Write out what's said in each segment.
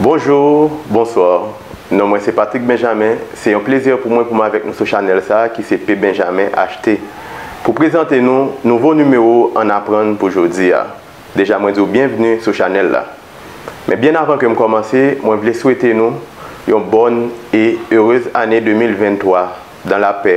Bonjour, bonsoir non mwen se Patrick Benjamin se yon plezi pou mwen pou m avèk nou sou chanèl sa ki se P Benjamin HT pou prezante nou nouvo nimewo ann aprann pou jodi a deja mwen di w byenvni sou chanèl la men byen avan ke m kòmanse mwen vle swete nou yon bòn e erez ane 2023 dan lapè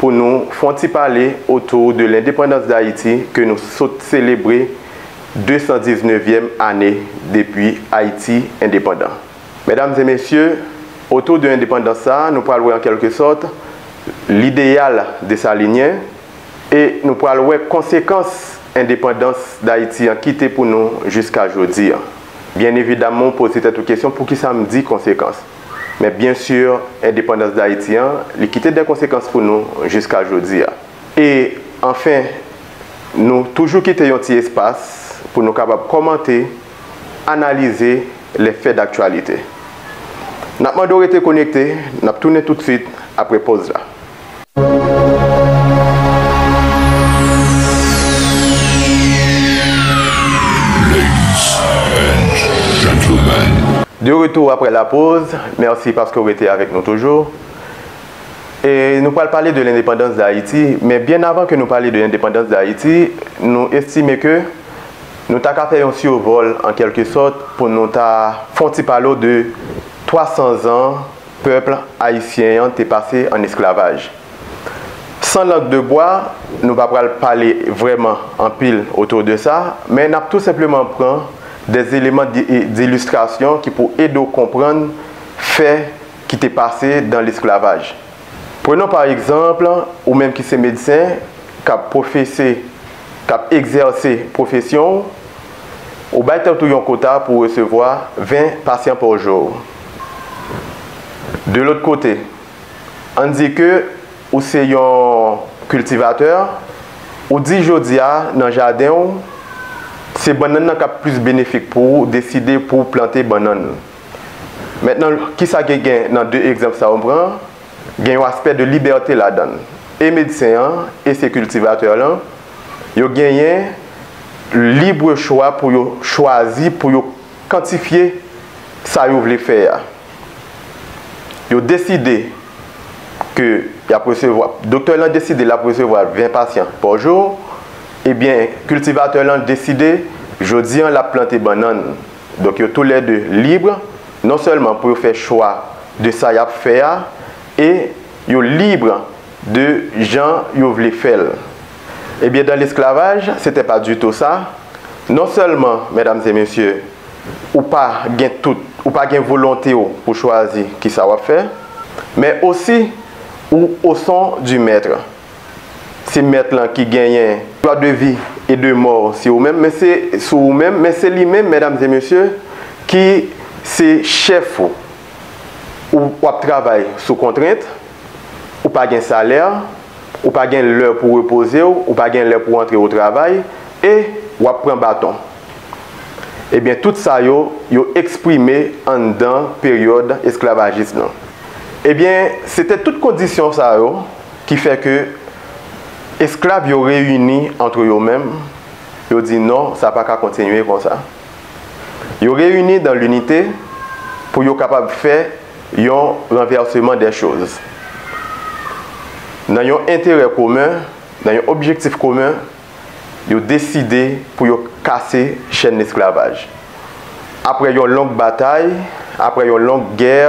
pou nou fon ti pale otou de lendepandans Dayiti ke nou sot selebre 219 vièm ane depi Ayiti endepandan. Medam e mesye, otou de endepandans sa nou pral wè an kelke sòt lideyal Desalinyen e nou pral wè konsekans endepandans Dayiti an kite pou nou jiska jodi an. Byen evidamman ou poze tèt ou kesyon poukisa m di konsekans? Men byen sur endepandans Dayiti an, li kite dè konsekans pou nou jiska jodi a. E anfen, nou toujou kite yon ti espas pou nou kapab kòmante, analize lè fè daktyalite. N ap mande w rete konekte, n ap tounen tout swit apre poz la. De retou aprè la poz, mèsi paske w rete avèk nou toujou. E nou pral pale de lendepandans Dayiti, men byen avan ke nou pale de endepandans Dayiti, nou estime ke nou ta ka fè yon sirvòl an kèlke sòt pou nou ta fon ti pale w de 300 zan Pèp ayisyen an te pase an esklavaj. San lang de bwa, nou pa pral pale vrèman anpil otou de sa, men n ap tou senpleman pran de eleman dilistrasyon ki pou ede w konprann fè ki te pase dan lesklavaj. Prenon pa egzanp, ou menm ki se medsen, k ap pwofese, k ap egzèse pwofesyon w, ou bay tèt ou yon kota pou w resevwa 20 pasyan pa jou. De lòt kote, ann di ke ou se yon kiltivatè, ou di jodi a nan jaden ou, se bannann nan k ap plis benefik pou ou, ou deside pou ou plante bannann. Mentnan, kisa ki gen nan de egzanp sa yo m pran? Gen yon aspè de libète ladan l. E medsen an, e se kiltivatè lan, yo genyen libre chwa pou yo chwazi pou yo. kantifye sa yo vle fè a. Yo deside ke y ap resevwa, doktè lan deside l ap resevwa 20 pasyan pa jou, ebyen kiltivatè lan deside jodi an l ap plante bannann. Donk yo tou lè 2 lib non sèlman pou yo fè chwa de sa y ap fè a e yo lib de jan yo vle fè l. Ebyen dan lesklavaj se te pa dutou sa, non selman medam e mesye ou pa gen tout ou pa gen volonte w pou chwazi kisa wap fè, men osi ou o son du mètre, se mèt lan ki genyen dwa de vi e de mò si ou menm men se sou ou menm men se li menm medam e mesye ki se chèf ou. Ou w ap travay sou kontrent, ou pa gen salè, ou pa gen lè pou w repoze w, ou pa gen lè pou w antre otravay, e w ap pran baton. Ebyen tout sa yo, yo eksprime anndan peryòd esklavajis nan. Ebyen se te tout kondisyon sa yo ki fè ke esklav yo reyini antre yo menm, yo di non sa pa ka kontinye konsa. Yo reyini dan linite pou yo kapab fè yon ranvèseman dè choz. Nan yon enterè komen, nan yon objektif komen, yo deside pou yo kase chèn lesklavaj. Apre yon long batay, apre yon long gè,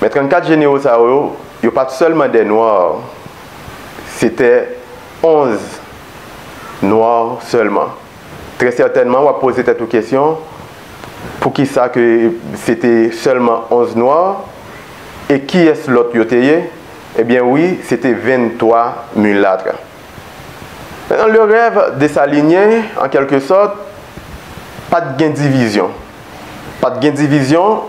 Men 34 jenero sa yo, yo pa t sèlman des noirs, c'étaient 11 noirs seulement. Très certainement, w ap poze tèt ou kesyon, pou ki sa ke se te sèlman 11 noirs? E kiyès lòt yo te ye? E byen wi, se te 23 mulâtres. Nan le rêve Dessalinien, en quelque sorte, pa t gen divizyon. Pa t gen divizyon.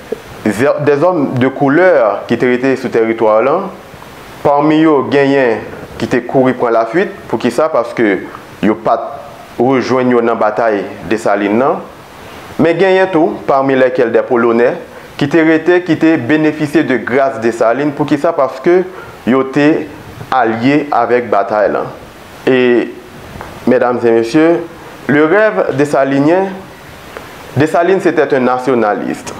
Dèzòm de koulè ki te rete sou tèritwa w lan, pami yo genyen ki te kouri pran lafuit, poukisa, paske yo pa t rejwenn yo nan batay Desalin lan, men genyen tou, pami lèkèl dè Polonè, ki te rete ki te benefisye de gras Desalin, poukisa, paske yo te alye avèk batay lan. E, mèdam e mesye, le rèv Desalinyen, Dessalines etait un nationaliste,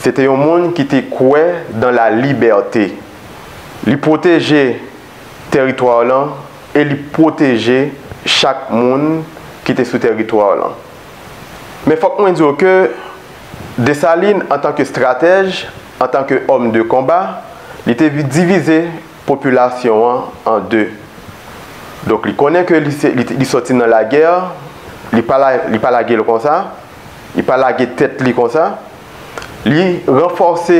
se te yon moun ki te kwè dans la liberté. Li pwoteje teritwa lan e li pwoteje chak moun ki te sou teritwa lan. Men fòk mwen di w ke Dessalines antan ke stratèj, antan ke homme de combat, li te divize popilasyon an an 2. Donk li konnen ke li se li sòti nan lagè, li pa li pa lage l konsa, li pa lage tèt li konsa, li ranfòse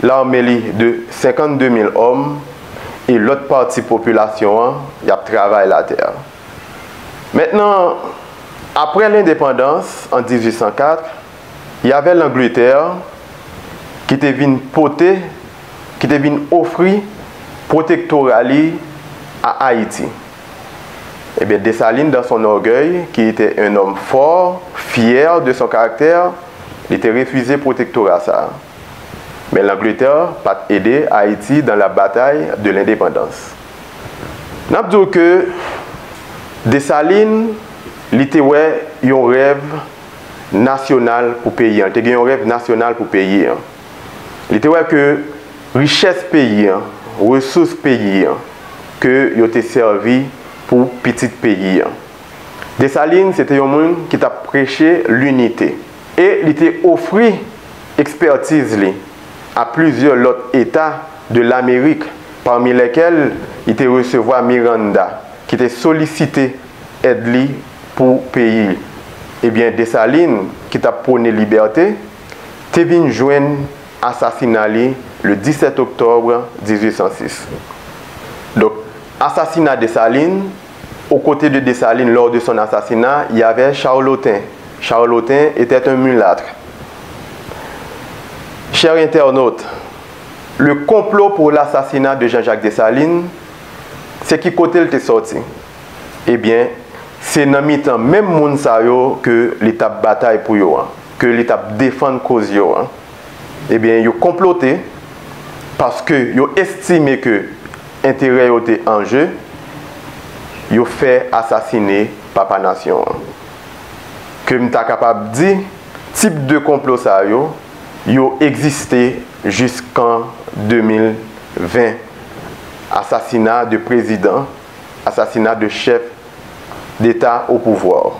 lame li de 52 mil òm e lòt pati popilasyon an y ap travay latè. Mentnan aprè lendepandans an 1804, y avè Langletè ki te vin pote. ki te vin ofri pwotektora li a Ayiti. Ebyen, Dessalines, dans son orgueil, qui était un homme fort, fier de son caractère, li te refize pwotektora sa a. Men Langletè pa t ede Ayiti dans la bataille de l'indépendance. N ap di w ke Dessalines, li te wè yon rèv nasyonal pou peyi an, li te gen yon rèv nasyonal pou peyi an. Li te wè ke richès peyi an, resous peyi an, ke yo te sèvi pou pitit peyi an. Dessalines se te yon moun ki t ap preche linite. E li te ofri ekspètiz li a plizyè lòt eta de Lamerik, pami lèkèl li te resevwa Miranda, ki te solisite èd li pou peyi li. Ebyen Dessalines, ki t ap pwone libète, te vin jwenn asasina li le 17 oktòb 1806. Donk, asasina Desalin, Aux côtés de Dessalines lors de son assassinat, il y avait Charlotin. Charlotin était un mulâtre. Chers internautes, le complot pour l'assassinat de Jean-Jacques Dessalines, se ki kote l te sòti? Ebyen, se nan mitan menm moun sa yo ke li t ap batay pou yo an. ke li tap defann koz yo an, ebyen yo konplote paske yo estime ke enterè yo te an je, yo fè asasine papa nasyon an. Ke m ta kapab di tip de konplo sa yo, yo egziste jiskan 2020, asasina de prezidan, asasina de chèf deta opouvwa.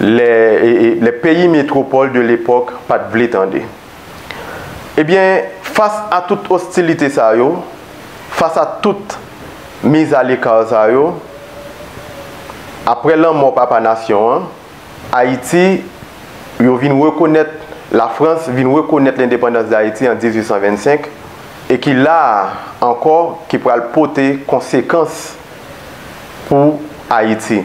lè peyi metropole de l'époque pat vle tande. Ebyen fas a tout ostilite sa yo, fas a tout mise à l'écart sa yo, aprè lanmò papa nasyon an, Ayiti, yo vin rekonèt, la France vin rekonèt lendepandans d'Ayiti an 1825, e ki la a ankò ki pral pote konsekans pou Ayiti.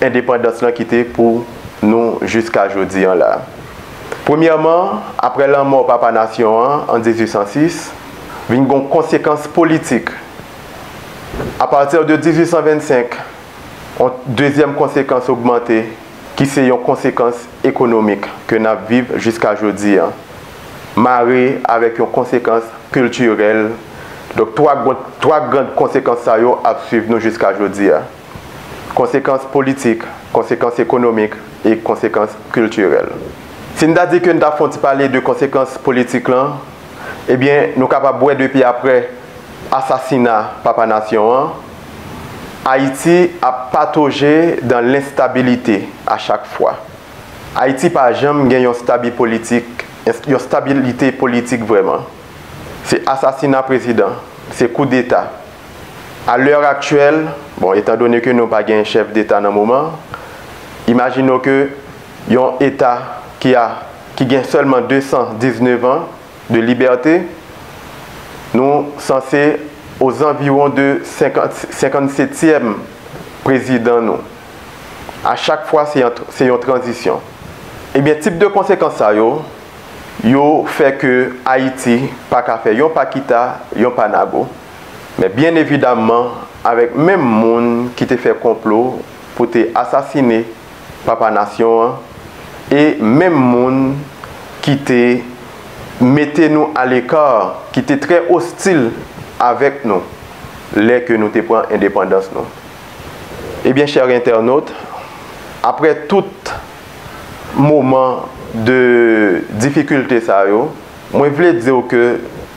endepandans lan kite pou nou jiska jodi an la. Premyèman, aprè lanmò papa nasyon an an 1806, vin gon konsekans politik. Apati de 1825, on dezyèm konsekans ogmante ki se yon konsekans ekonomik ke n ap viv jiska jodi an, mare avèk yon konsekans kiltirèl. Donk, twa grand konsekans sa yo ap swiv nou jiska jodi a. konsekans politik, konsekans ekonomik e konsekans kiltirèl. Si n ta di ke n ta fon ti pale de konsekans politik lan, ebyen nou kapab wè depi aprè asasina Papa Nasyon an, Ayiti ap patoje dan lenstabilite a chak fwa. Ayiti pa janm gen yon stabi politik, yon stabilite politik vrèman. Se asasina prezidan, se koudeta. A lè aktyèl, bon etan done ke nou pa gen chèf deta nan moman, imajine w ke yon eta ki a ki gen sèlman 219 an de libète, nou sanse ozanviwon de 50 senkann setyèm prezidan nou. A chak fwa se yon se yon tranzisyon. Ebyen tip de konsekans sa yo, yo fè ke Ayiti pa ka fè yon pa kita, yon pa nago. men byen evidamman avèk menm moun ki te fè konplo pou te asasine Papa Nasyon an e menm moun ki te mete nou aleka, ki te trè ostil avèk nou lè ke nou te pran endepandans nou. Ebyen chè entènot, aprè tout moman de difikilte sa yo, mwen vle di w ke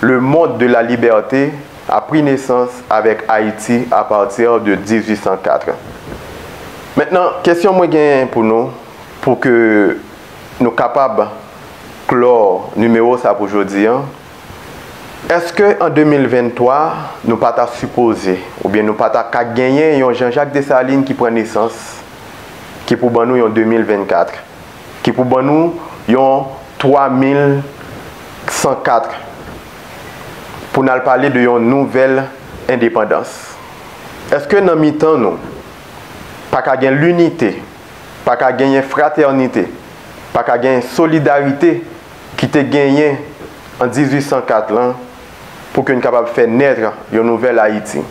Le monde de la liberté a pri nesans avèk Ayiti a pati de 1804. Mentnan, kesyon mwen genyen pou nou, pou ke nou kapab klò nimewo sa pou jodi an, Eske an 2023 nou pa ta sipoze, oubyen nou pa ta ka genyen yon Jean-Jacques Dessalines ki pran nesans, ki pou ban nou yon 2024? ki pou ban nou yon 3104 pou n al pale de yon nouvèl endepandans. Eske nan mitan nou pa ka gen linite, pa ka genyen fratènite, pa ka gen solidarite ki te genyen an 1804 lan pou ke n kapab fè nètre yon nouvèl Ayiti?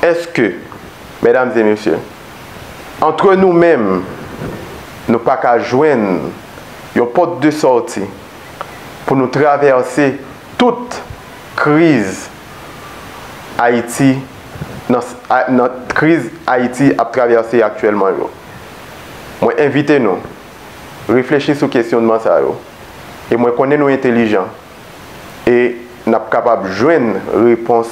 Eske, mèdam e mesye, Antre nou menm, nou pa ka jwenn yon pòt de sòti pou nou travèse tout kriz Ayiti nan kriz Ayiti ap travèse aktyèlman yo. Mwen envite nou reflechi sou kesyonnman sa yo e mwen konnen nou entelijan e n ap kapab jwenn repons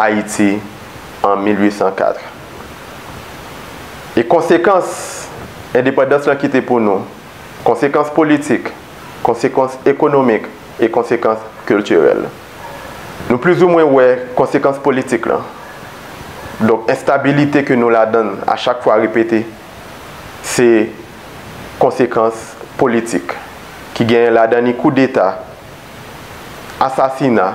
Ayiti an 1804. E konsekans endepandans lan kite pou nou, konsekans politik, konsekans ekonomik e konsekans kiltirèl. Nou plizoumwen wè konsekans politik lan. Donk enstabilite ke nou ladan l a chak fwa repete, se konsekans politik ki genyen ladan ni koudeta, asasina,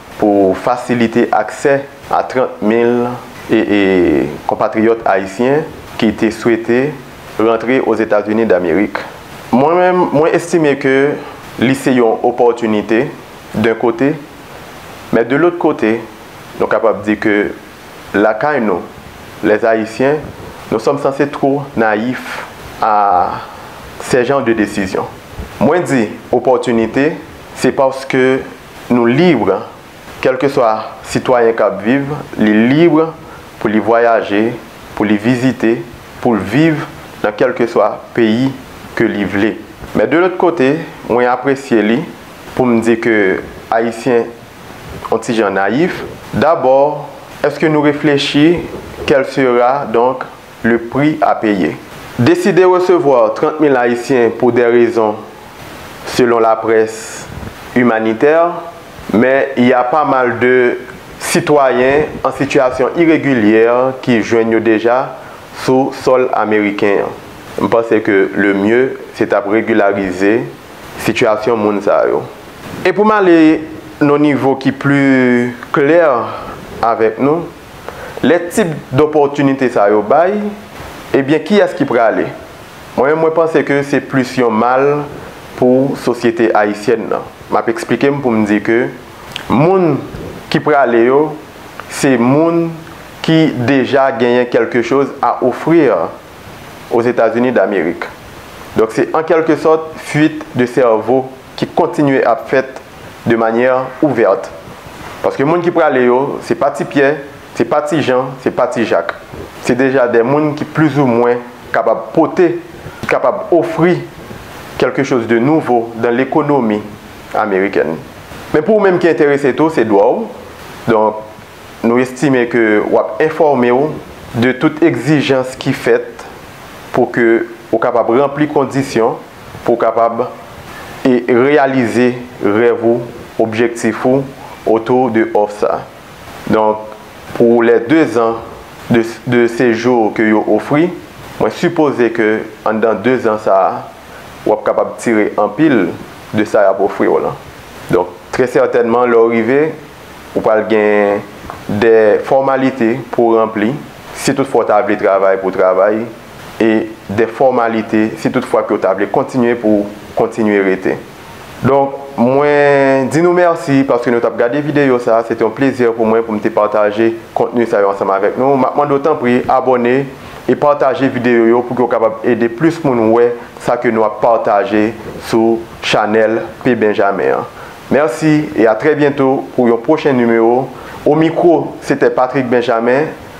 pou fasilite aksè a 30 mil konpatriyòt ayisyen ki te swete rantre Ozetazini Damerik. Mwen menm, mwen estime ke li se yon opòtinite d'un kote, men de lòt kote, nou kapab di ke lakay nou, les Haïtiens, nous sommes sanse two nayif a sè jan de desizyon. Mwen di opòtinite, se paske. Nou libre, kèlkeswa sitwayen k ap viv, li libre pou li vwayaje, pou li vizite, pou l viv nan kèlkeswa peyi ke li vle. Men de lòt kote, mwen apresye li pou m di ke Ayisyen on ti jan nayif. Dabò, èske nou reflechi kèl sera donk Le prix à payer. Deside resevwa 30 mil Ayisyen pou dè rezon, selon la près, imanitè, men y a pa mal de sitwayen an sitiyasyon iregilyè ki jwenn yo deja sou sòl ameriken an. M panse ke le mye se t ap regilarize sitiyasyon moun sa yo. E pou m ale nan yon nivo ki pli klè avèk nou. Lè tip dòpòtinite sa yo bay, ebyen kiyès ki prale? Mwen menm mwen panse ke se plis yon mal pou sosyete ayisyèn nan. M ap eksplike m pou m di ke moun ki prale yo se moun ki deja genyen kèlke choz a offrir aux Etats-Unis d'Amérique. Donk se an kèlke sòt fuite de cerveau. ki kontinye ap fèt de manyè ouvèt. Paske moun ki prale yo, se pa ti Pyè, se pa ti Jan, se pa ti Jak. Se deja de moun ki plizoumwen kapab pote, ki kapab ofri kèlke choz de nouvo dan lekonomi amerikèn. Men pou ou menm ki enterese tou, se dwa w. Donk, nou estime ke w ap enfòme w de tout egzijans ki fèt pou ke ou kapab ranpli kondisyon. pou w kapab e reyalize rèv ou, objektif ou autour de òf sa. Donk pou les 2 ans de de séjour ke yo ofri, mwen sipoze ke anndan 2 ans sa a, w ap kapab tire anpil de sa y ap ofri w lan. Donk trè sètènman lè w rive, ou pral gen dè fòmalite pou w ranpli, si tout fwa w ta vle travay pou w travay, e de fòmalite si tout fwa ke yo ta vle kontinye pou kontinye rete. Donk, mwen di nou mèsi paske nou tap gade videyo sa, se te yon plezi pou mwen pou m te pataje kontni sa yo ansanm avèk nou. Map mande w tanpri abòne e pataje videyo yo pou ke w kapab ede plis moun wè sa ke nou ap pataje sou chanèl P. Benjamin an. Mèsi e a trè byento pou yon pwochen nimewo. O mikwo, se te Patrick Benjamin.